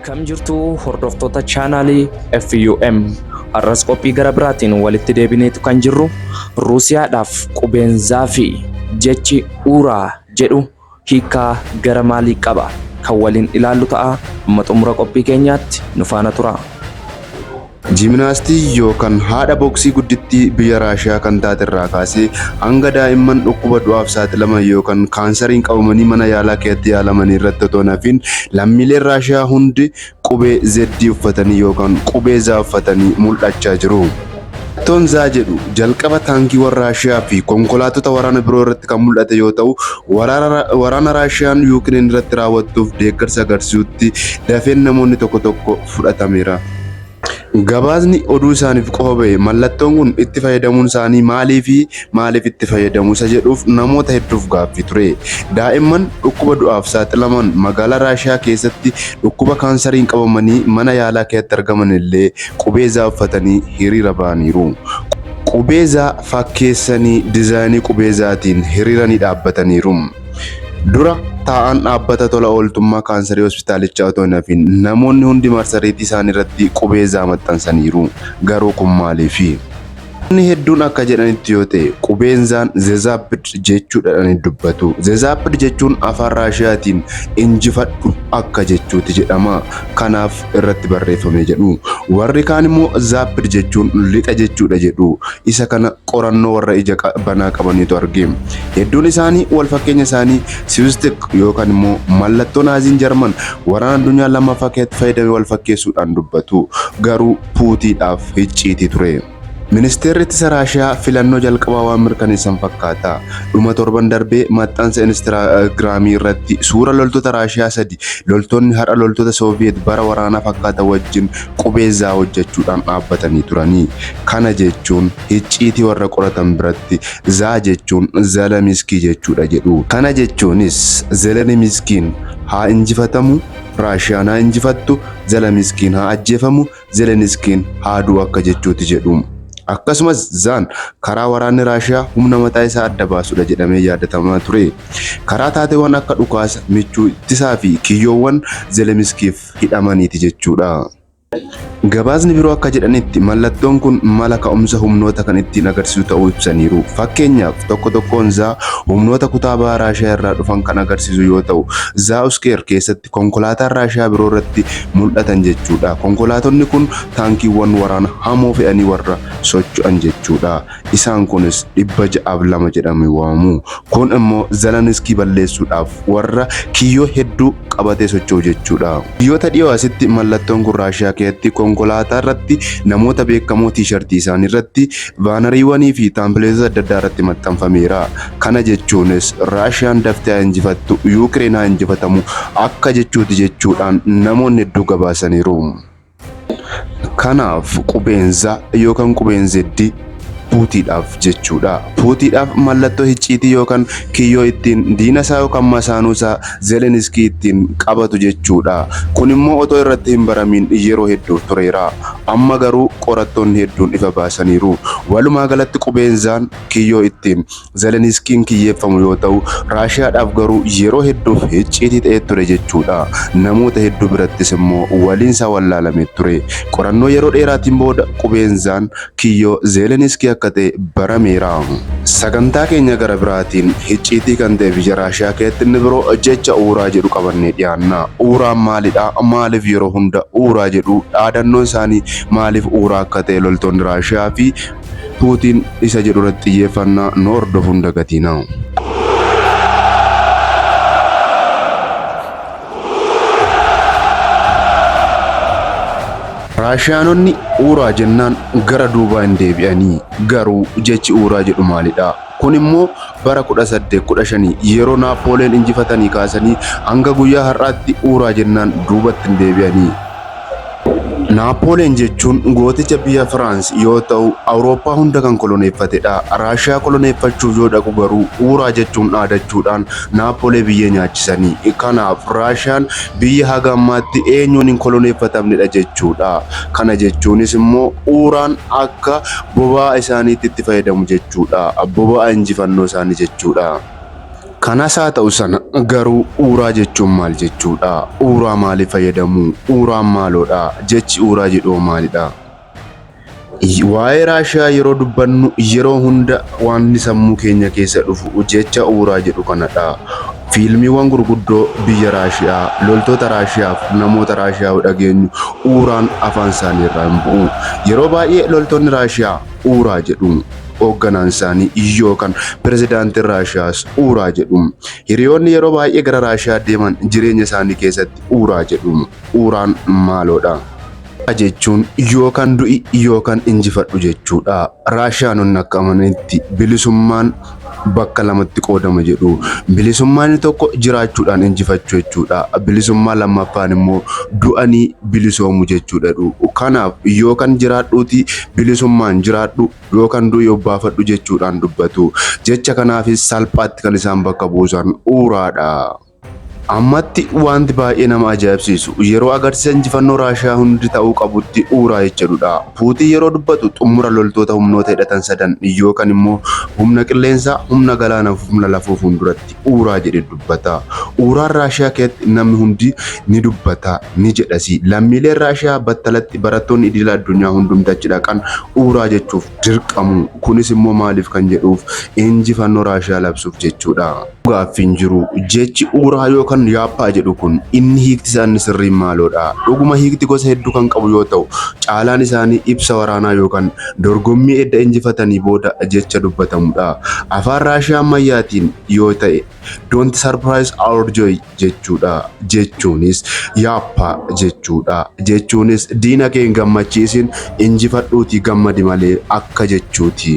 Akkam jirtu hordoftoota chaanaalii FUM. Har'as qophii gara biraatiin walitti deebineetu kan jirru Ruusiyaadhaaf qubeen zaafii jechi uuraa jedhu hiikkaa gara maalii qaba? kan waliin ilaallu ta'a. Amma xumura qophii keenyaatti nu faana turaa. Jiminaastii yookan haadha boksii guddittii biyya Raashiyaa kan taate irraa kaasee hanga daa'imman dhukkuba du'aaf saaxilaman yookan kaansariin qabamanii mana yaalaa keessatti yaalamanii irratti otoo hin hafiin lammiileen Raashiyaa hundi qubee Z uffatanii yookaan qubee Z uffatanii mul'achaa jiru. Mallattoon Z jedhu jalqaba taankiiwwan Raashiyaa fi konkolaattota waraana biroo irratti kan mul'ate yoo ta'u, waraana Raashiyaan Yuukireen irratti raawwattuuf deeggarsa agarsiisutti dafeen namoonni tokko tokko fudhatameera. Gabaasni oduu isaaniif qofa bahe mallattoon kun itti fayyadamuun isaanii maaliifi? maaliif itti fayyadamu isa jedhuuf namoota hedduuf gaaffii ture. Daa'imman dhukkuba du'aaf saaxilaman magaalaa Raashiyaa keessatti dhukkuba kaansariin qabamanii mana yaalaa keessatti argaman illee qubee zaa uffatanii hiriira ba'aniiru. Qubee zaa fakkeessanii dizaayinii qubee zaatiin hiriiranii dhaabbataniiru. Dura taa'aan dhaabbata tola ooltummaa kaansarii hospitaalichaa otoo hin hafiin namoonni hundi marsariitii isaanii irratti qubee zaa maxxansaniiru. Garuu kun maaliifi? Namoonni hedduun akka jedhanitti yoo ta'e qubeen zaan zezaapid jechuudhaan dubbatu. Zezaapid jechuun afaan Raashiyaatiin injifadhu akka jechuuti jedhama. Kanaaf irratti barreeffame jedhu. Warri kaan immoo zaapid jechuun lixa jechuudha jedhu. Isa kana qorannoo warra ija banaa qabaniitu arge. Hedduun isaanii wal fakkeenya isaanii siwistik yookaan immoo mallattoo naaziin jarman waraana addunyaa lammaffaa keessatti fayyadame wal fakkeessuudhaan dubbatu. Garuu Puutiidhaaf hicciitii ture. Ministeerri Ittisa Raashiyaa filannoo jalqabaa waan mirkaneessan fakkaata. Dhuma torban darbee maxxansa Instaagiraamii irratti suura loltoota Raashiyaa sadi loltoonni har'a loltoota Sooviyeet bara waraanaa fakkaatan wajjin qubee zaa hojjechuudhaan dhaabbatanii turanii. Kana jechuun hicciitii warra qoratan biratti zaa jechuun Zeleniskii jechuudha jedhu. Kana jechuunis Zelenimiskiin haa injifatamu, Raashiyaan haa injifattu, Zeleniskiin haa ajjeefamu, Zeleniskiin haa du'u akka jechuuti jedhu. Akkasumas Zaan karaa waraanni Raashiyaa humna mataa isaa adda baasudha jedhamee yaadatamaa ture. Karaa taateewwan akka dhukaasa, michuu ittisaa fi kiyyoowwan Zeleniskiif hidhamaniiti jechuudha. Gabaasni biroo akka jedhanitti mallattoon kun mala ka'umsa humnoota kan ittiin agarsiisu ta'uu ibsaniiru. Fakkeenyaaf tokko tokkoon isaa humnoota kutaa baha Raashiyaa irraa dhufan kan agarsiisu yoo ta'u, Zauskeer keessatti konkolaataan Raashiyaa biroo irratti mul'atan jechuudha. Konkolaatonni kun taankiiwwan waraana hamoo fe'anii warra socho'an jechuudha. Isaan kunis dhibba ja'aaf lama jedhamee waamamu. Kun immoo Zeleniskii balleessuudhaaf warra kiyyoo hedduu qabatee socho'u jechuudha. Guyyoota dhiyoo asitti mallattoon kun Raashiyaa keessatti konkolaataa irratti namoota beekamoo tiishartii isaanii irratti, baanariiwwanii fi taampileetota adda addaa irratti maxxanfameera. Kana jechuunis Raashiyaan daftee haa injifattu, Yuukireen haa injifatamu akka jechuuti jechuudhaan namoonni hedduu gabaasaniiru. Kanaaf qubeen za yookaan qubeen zeddi puutiidhaaf jechuudha. Puutiidhaaf mallattoo hicciitii yookaan kiyyoo ittiin diina isaa yookaan masaanuu isaa Zeleniskii ittiin qabatu jechuudha. Kun immoo otoo irratti hin baramiin yeroo hedduuf tureera. Amma garuu qorattoonni hedduun ifa baasaniiru. Walumaa galatti qubeen zaan kiyyoo ittiin Zeleniskiin kiyyeeffamu yoo ta'u, Raashiyaadhaaf garuu yeroo hedduuf hicciitii ta'ee ture jechuudha. Namoota hedduu birattis immoo waliin isaa wallaalame ture. Qorannoo yeroo dheeraatiin booda qubeen Zaan kiyyoo Zeleniskii akka ta'e barameera. Sagantaa keenya gara biraatiin hicciitii kan ta'e biyya Raashiyaa keessatti inni biroo jecha uuraa jedhu qabannee dhiyaanna. Uuraan maalidha? Maaliif yeroo hunda uuraa jedhu? Dhaadannoon isaanii maaliif uuraa akka ta'e loltoonni Raashiyaa fi Puutiin isa jedhu irratti xiyyeeffannaa nu hordofu hin dagatiinaa. Raashiyaanonni Uuraa jennaan gara duubaa hin deebi'anii. Garuu jechi Uuraa jedhu maalidhaa? Kun immoo bara 1815 yeroo Naappoleen injifatanii kaasanii hanga guyyaa har'aatti uuraa jennaan duubatti hin deebi'anii. Naappoleen jechuun gooticha biyya Firaans yoo ta'u Awurooppaa hunda kan koloneeffatedha. Raashiyaa koloneeffachuuf yoo dhaqu garuu uuraa jechuun dhaadachuudhaan Naappolee biyyee nyaachisanii. Kanaaf Raashiyaan biyya haga ammaatti eenyuun hin koloneeffatamnedha jechuudha. Kana jechuunis immoo uuraan akka boba'aa isaaniitti itti fayyadamu jechuudha. Boba'aa injifannoo isaanii jechuudha. Kanas haa ta'u sana garuu uuraa jechuun maal jechuudha? Uuraa maaliif fayyadamu? Uuraan maaloodha? Jechi uuraa jedhu hoo maalidha? Waa'ee Raashiyaa yeroo dubbannu yeroo hunda wanti sammuu keenya keessa dhufu jecha uuraa jedhu kanadha. Fiilmiiwwan gurguddoo biyya Raashiyaa, loltoota Raashiyaa fi namoota Raashiyaa yoo dhageenyu uuraan afaan isaanii irraa hin bu'u. Yeroo baay'ee loltoonni Raashiyaa uuraa jedhu. Hoogganaan isaanii yookaan pirezidaantiin Raashiyaas uuraa jedhu. Hiriyoonni yeroo baay'ee gara Raashiyaa deeman jireenya isaanii keessatti uuraa jedhu. Uuraan maaloodha? Kana jechuun yookaan du'i yookaan injifadhu jechuudha. Raashiyaanonni akka amananitti bilisummaan bakka lamatti qoodama jedhu. Bilisummaan inni tokko jiraachuudhaan injifachuu jechuudha. Bilisummaa lammaffaan immoo du'anii bilisoomu jechuudha jedhu. Kanaaf yookaan jiraadhuuti bilisummaan jiraadhu yookaan du'i obbaafadhu jechuudhaan dubbatu. Jecha kanaafis salphaatti kan isaan bakka buusan uuraadha. Ammatti wanti baay'ee nama ajaa'ibsiisu yeroo agarsiisa injifannoo Raashiyaa hundi ta'uu qabutti uura jedhudha. Puutiin yeroo dubbatu xumura loltoota humnoota hidhatan sadan yookan immoo humna qilleensaa, humna galaanaa fi humna lafoo fuulduratti uura jedhe dubbata. Uuraan Raashiyaa keessatti namni hundi ni dubbata, ni jedhasi. Lammiileen Raashiyaa battalatti barattoonni idila addunyaa hundumti achi dhaqan uura jechuuf dirqamu. Kunis immoo maaliif kan jedhuuf injifannoo Raashiyaa labsuuf jechuudha. gaaffi hin jiru. Jechi uuraa yookaan yaappaa jedhu kun inni hiikti isaa inni sirriin maaloodha? Dhuguma hiikti gosa hedduu kan qabu yoo ta'u, caalaan isaanii ibsa waraanaa yookaan dorgommii edda injifatanii booda jecha dubbatamudha. Afaan Raashiyaa ammayyaatiin yoo ta'e Don't surprise our joy jechuudha. Jechuunis yaappaa jechuudha. Jechuunis diina kee hin gammachiisin, injifadhuutii gammadi malee akka jechuuti.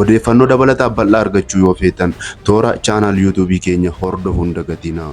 Odeeffannoo dabalataa bal'aa argachuu yoo feetan toora channel youtube keenya hordofu hin dagatinaa.